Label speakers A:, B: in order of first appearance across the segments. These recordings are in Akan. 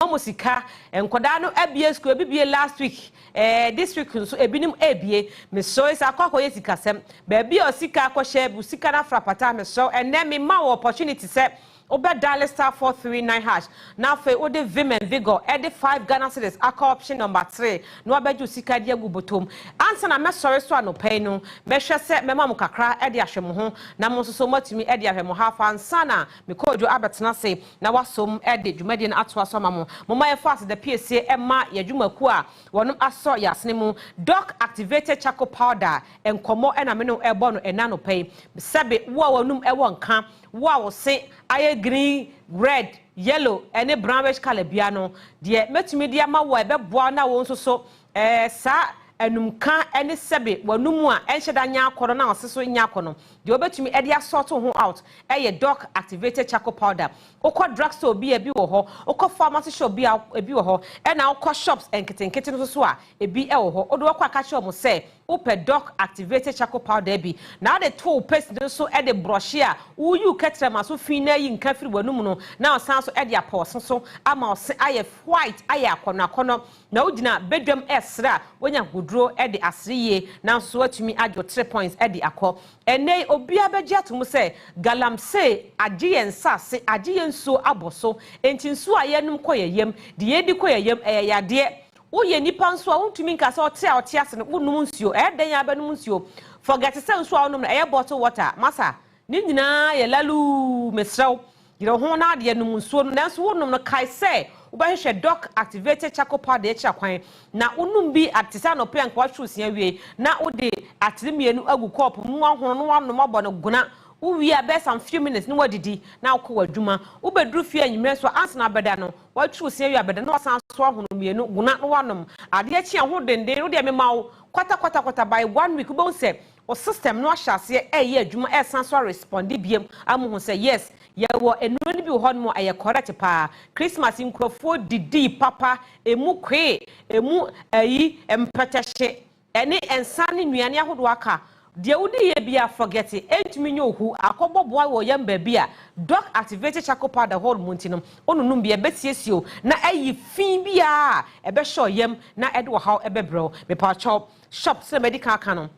A: wɔn sika nkɔdaa no abie school ebi bie last week ɛɛ this week nso ebinom ebie mesrɛ sɛ akɔ akɔyɛ sikasɛm baabi a ɔsika akɔhyɛ bu sika no afra pata mesrɛ ɛnɛ mema wɔ opportunity sɛ wobɛ dial star four three nine hash na afei wode vim and vigor ɛde five Ghana cedis akɔ option number three na wabɛgye osika de agu botom ansa na mɛsɔre so anɔpa yi no mɛhwɛ sɛ mɛma mo kakra ɛde ahwɛ mo ho na mo nso so moatumi ɛde ahwɛ mo half ansa na Mekɔɔ dwo abɛtena ase na wɔasom de dwumadie no atoa so ama mo. Momma yɛmfa aseda piesie mma yɛn adwumakuo a wɔnom asɔ yɛn asene mu Doc Activated Charcoal Powder Nkɔmmɔ na me ne wo rebɔ no ɛnnɛ anɔpa yi. Sɛbe wo a w'anum wɔ nka, wo a wo se ayɛ green, red, yellow ne brownish colour biara no, deɛ mɛtumi de ama wo a ɛbɛboa wo na wo nso so Ɛɛ, saa anumka ne sɛbe w'anom a ɛnhyɛ da nyɛ akɔnnɔ na ɔse so nyɛ akɔnnɔ. Deɛ wobɛtumi de asort wo ho out yɛ doc activated charcoal powder. Wokɔ drugstore bi a, ebi wɔ hɔ. Wokɔ pharmacy shop bi a, ebi wɔ hɔ. Ɛna wokɔ shops nketenkete no nso so a, ebi wɔ hɔ. Wode wɔ kɔ a, ka kyerɛ wɔn sɛ wopɛ doc activated charcoal powder bi. Na wode to wo paste no so de brɔhye a, woyi wo kɛtrɛma so fi na ayi nka firi w'anom no na wasan so de apɔ ɔse so ama ɔse ayɛ white, ayɛ akɔnnɔ akɔnnɔ. Na wogyina badwam resere a, wonya ahodwuo de asere yie, nanso woatumi adwo tre points de akɔ. Ɛnnɛ yi, obiara bɛgye atom sɛ Galamsey agye yɛn nsase, agye yɛn nsuo abɔ so. Enti nsuo a yɛnom kɔ yɛn yam, deɛ yɛdi kɔ yɛn yam, ɛyɛ yadeɛ. Woyɛ nipa nso a, wontumi nka sɛ ɔte a ɔte ase no, wonom nsuo. Ɛyɛ dɛn ara bɛnom nsuo. Forget sɛ nsuo a wonom no, ɛyɛ bottle water. Masa, Ne nyinaa yɛ laluu, mesrɛ wo, yere wo ho na adeɛ nom nsuo no, nanso wonom no kae sɛ wobɛhwehwɛ doc activated charcoal powder akyira kwan na wonom bi a te sɛ anɔpɛ a nka woatwe wo se awie na wode atere mmienu agu kɔɔpo mu na woahono na woanom abɔ no gona wowie a bɛyɛ some few minutes na woadidi na wokɔ w'adwuma wobɛduru fie anwummerɛ nso a ansa na abɛda no woatwe wo se awie abɛda na wasan so ahono mmienu gona na woanom adeɛ kye a ho denden wodeɛ mema wo kwata kwata kwata by one week wobɛhu sɛ Wo system no ahyɛ aseɛ ɛyɛ adwuma ɛsan so aresponde biom a mo hu sɛ yes yɛwɔ nnuro no bi wɔ hɔ nom a ɛyɛ correct paa Christmas nkurɔfoɔ didii papa ɛmu kwee ɛmu ayi mpɛtɛhye ɛne nsa ne nnuane ahodoɔ aka deɛ wo diiɛ biara forget it ɛntumi nyɛ ohu akɔbɔ boa wɔ yɛn baabi a doc activated charcoal powder hɔ nom nti no wo nonom bi ɛbɛsiesie wo na ayi fii biara a ɛbɛhyɛ wo yam na ɛde ɔhaw ɛbɛbrɛ wo mepakyɛw Shop sɛdeɛ madi kan aka no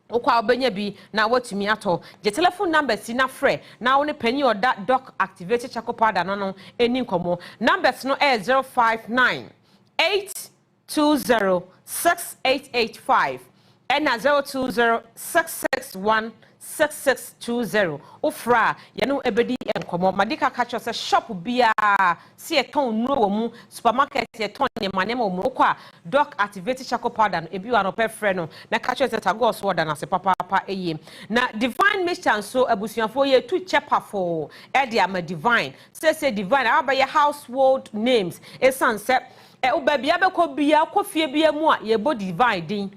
A: wokɔ a wobɛnya bi na woatumi atɔ. Gye telephone numbers yi na frɛ na wo ne panin a ɔda Doc Activated Charcoal Powder no ano nni nkɔmmɔ. Numbers no yɛ 059 820 6885 ɛna 020 661 Six six two zero wo frɛ a yɛne wo ɛbɛdi nkɔmmɔ. Madi ka ka kyerɛ wo sɛ shop biara sɛ yɛtɔn nnuro wɔ mu, supermarket yɛtɔn nneɛma nneɛma wɔ mu. Wokɔ a Doc Activated Charcoal Powder no ebi wɔ anɔpa frɛ no na ka kyerɛ no sɛ Tagore so ɔda no ase papaapa yie. Na Divine Mixture nso abusuafoɔ yɛretu kyɛ pafoo de ama Divine. Seesei Divine abɛyɛ household names ɛsiane sɛ baabiara wobɛkɔ biara, wokɔ fie biara mu a yɛbɔ Divine din.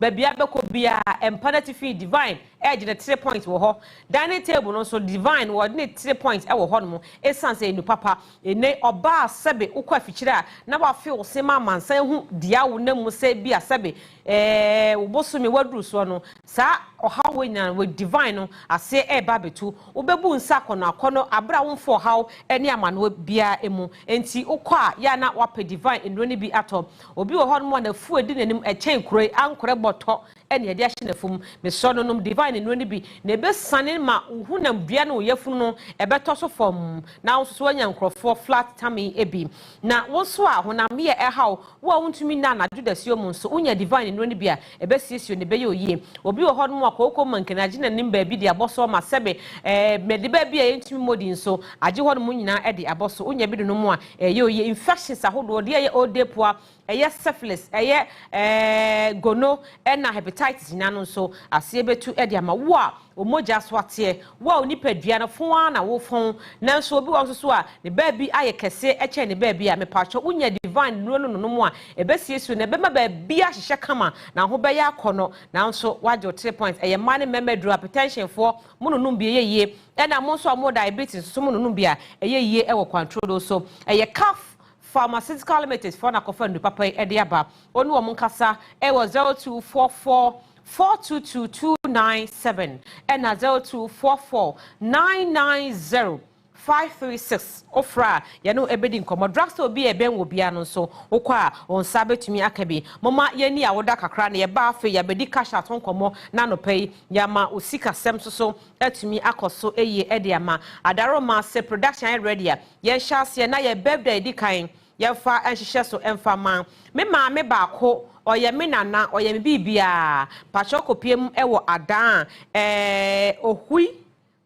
A: Baabi a bɛkɔ biara, mpa n'atifi, Divine regye ne three points wɔ hɔ. Dining table no nso, Divine wɔde ne three points wɔ hɔnom esiane sɛ ɛnu papa. Ene, ɔbaa a sɛbe wokɔ afikyire a na woafe wo se ma amansan hu dea wonam mu sɛ ebia sɛbe eh wo bosome woaduru soɔ no, saa ɔhaw wei nyinaa no wɔ Divine no aseɛ reba abɛtu. Wobɛbu nsa akɔnɔ akɔnɔ bere a womfa ɔhaw ne amanoɔ biara mu. Enti wokɔ a yɛ a na woapɛ Divine nnuro no bi atɔ. Obi wɔ hɔnom a n'afuw a edi n'anim kyɛn kuro yi ankorɛ bɔtɔ ne ade ahye n'afum. Mesrɛ no, nom divine nnuro no bi, na ebesiane ma wo honam dua ne wo yafunu no bɛtɔ so fɔmm, na wo nso so woanya nkurɔfoɔ flat tummy bi. Na wo nso a honam yɛ ɛhaw wo a wuntumi nna anadwo dasuo mu nso, wonya divine nnuro no bi a, Ɛbɛsiesie no, ɛbɛyɛ oyie. Obi wɔ hɔnom a kooko ma nkene agye n'anim baabi de abɔ so ama sɛbe. Ɛɛ, mede baabi a yɛntumi mmɔ din so agye hɔnom nyinaa de abɔ so. Wonya bi de nom a, ɛyɛ oyie. Infections ahodoɔ, deɛ ɛyɛ odepoa, ɛyɛ syphilis, ɛyɛ, ɛɛ, gono ɛna hepatitis nyinaa no nso, aseɛ bɛtu de ama wo a. Wo mogya so ateɛ. Wo a wo nipadua no fon ara na wo fon, nanso obi wɔ hɔ nso so a ne baabi ayɛ kɛseɛ kyɛn ne baabi a, mepakyɛw wo nya divine nnuro no nonom a ɛbɛsiesie wo na ɛbɛma baabi ahyehyɛ kama na ho bɛyɛ akɔnɔ. Nanso woagye wo tiri point. Ɛyɛ mmaa ne mmarima aduro, apetɛnhyen foɔ, mo nonom bi ɛyɛ yie, ɛna mo nso a mowɔ diabetes nso so mo nonom bi a ɛyɛ yie ɛwɔ kwantrodo so. Ɛyɛ Kaf Pharmaceutical Limited foɔ na akɔfa nnuro papa yi ɛde aba. Wɔn ne wɔn nkasa ɛwɔ zero two four four four two two two nine seven ɛna zero two four four nine nine zero five three six ofra a yɛne ɛbɛdi nkɔmmɔ drugstore bi a ɛbɛn wɔ biara no nso wokɔ a wɔn nsa bɛtumi aka bi moma yɛni awoda kakra na yɛba afei yɛabɛdi cash out ho nkɔmmɔ na anɔpa yi yɛama osikasɛm so so atumi akɔ so yie ɛde ama adaroma se production ayɛ ready a yɛnhyɛ aseɛ na yɛ birthday ɛdi kan Yɛmfa nhyehyɛ so mfa ma. Me maame baako, ɔyɛ me nana, ɔyɛ me biribiara. Pakyɛw kɔpue mu wɔ adan a eh, Ohui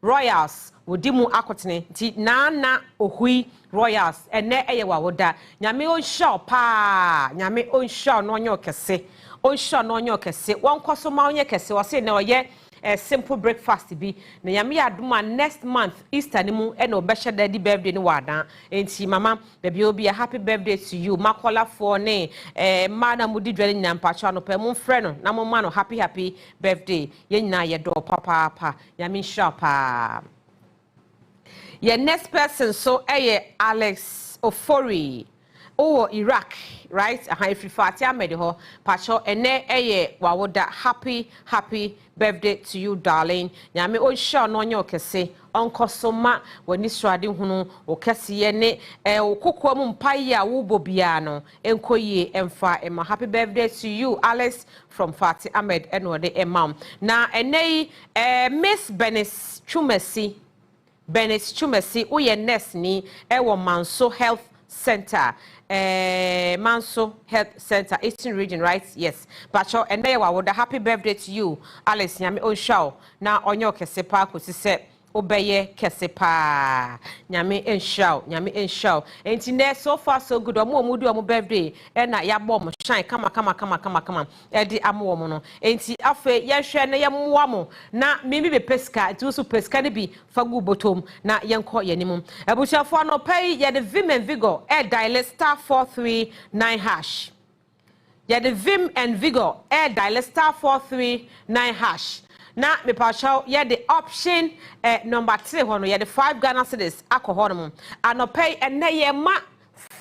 A: Royals wɔdi mu akotene nti, Nana Ohui Royals, ɛnnɛ yɛ w'awoda. Nyame ɔnhyira wo pa ara, Nyame ɔnhyira wo na ɔnyɛ wo kɛse, ɔnhyira wo na ɔnyɛ wo kɛse, wɔnkɔ so ma wonyɛ kɛse, ɔse nea ɔyɛ. Ɛyɛ simple breakfast bi na Nyame yɛ adom a next month Easter no mu na wɔbɛhyɛ da adi birthday no wɔ Adan nti mama baabi a obi a happy birthday to you makɔlafoɔ ne eh, mmaa na mudi dwa no nyinaa mpakyɛ anɔpa yi momfrɛ no na momma no happy happy birthday yɛn nyinaa yɛdɔ papaapa Nyame nhyira paa. Yɛn next person nso yɛ Alex Ofori. Wowɔ Iraq right? Aha efiri Fati Ahmed hɔ. Pakyɛ ɛnɛ yɛ w'awoda. Happy happy birthday to you darling. Nyame ɔnhyira wo na ɔnyɛ wo kɛse. Ɔnkɔ so ma w'ani srade hunu, wo kɛseyɛ ne eh, wo kokoa mu mpaeɛ a wobɔ biara no Ɛnkɔ yie ɛmfa mma happy birthday to you Alice from Fati Ahmed ɛna ɔde ɛma wo na ɛnɛ yi eh, Miss Bernice Twumasi Bernice Twumasi woyɛ nurse ni ɛwɔ Manso Health Center eh, Manso Health Center Eastern Region right yes bakyɛw ɛnɛ yɛ wawoda happy birthday to you Alice nyame ɔnhyira wo na ɔnyɛ ɔkɛse paa kɔsi sɛ Wobɛyɛ kɛse paa. Nyame nhyira wo, Nyame nhyira wo. Enti nnɛ so far so good, wɔn a wɔdi wɔn birthday ɛna yɛabɔ wɔn shine kama kama kama kama kama ɛde ama wɔn no. Enti afei yɛnhwɛ na yɛmmoa mo na me me bɛpɛ sika nti wo nso pɛ sika no bi fa gu bɔtɔm na yɛnkɔ yɛn anim. Abusuafoɔ anɔpa yi yɛde vim and vigor ɛɛdaele star four three nine hash. Yɛde vim and vigor ɛyɛ dialer star four three nine hash na mepakyɛw yɛde option ɛ number three hɔ no yɛde five Ghana cedis akɔ hɔ nom anɔpa yi ɛnɛ yɛ ma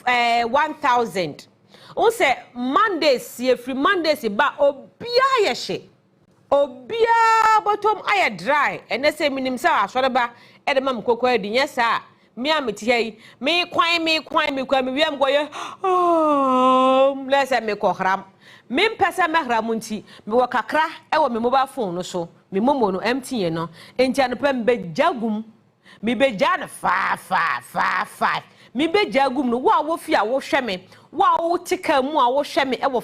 A: ɛ one thousand. N sɛ Mondays yɛ firi Mondays ba obiara yɛ hye. Obiara bɔtɔm ayɛ dry ɛnɛ sɛ menim sɛ asɔreba ɛde ma me kɔkɔ adi nyɛ saa a me a mete ha yi me kwan me kwan me kwan me wie a mekɔ yɛ oom na sɛ mekɔ hram me mpɛ sɛ mɛhra mo nti mewɔ kakra ɛwɔ me mobile phone no so me momo no empty yɛ no nti anɔpɛ mbɛgya gum mebɛgya no faa faa faa faa mebɛgya gum no wo a wofi a wohwɛ me wo a wote kaa mu a wohwɛ me ɛwɔ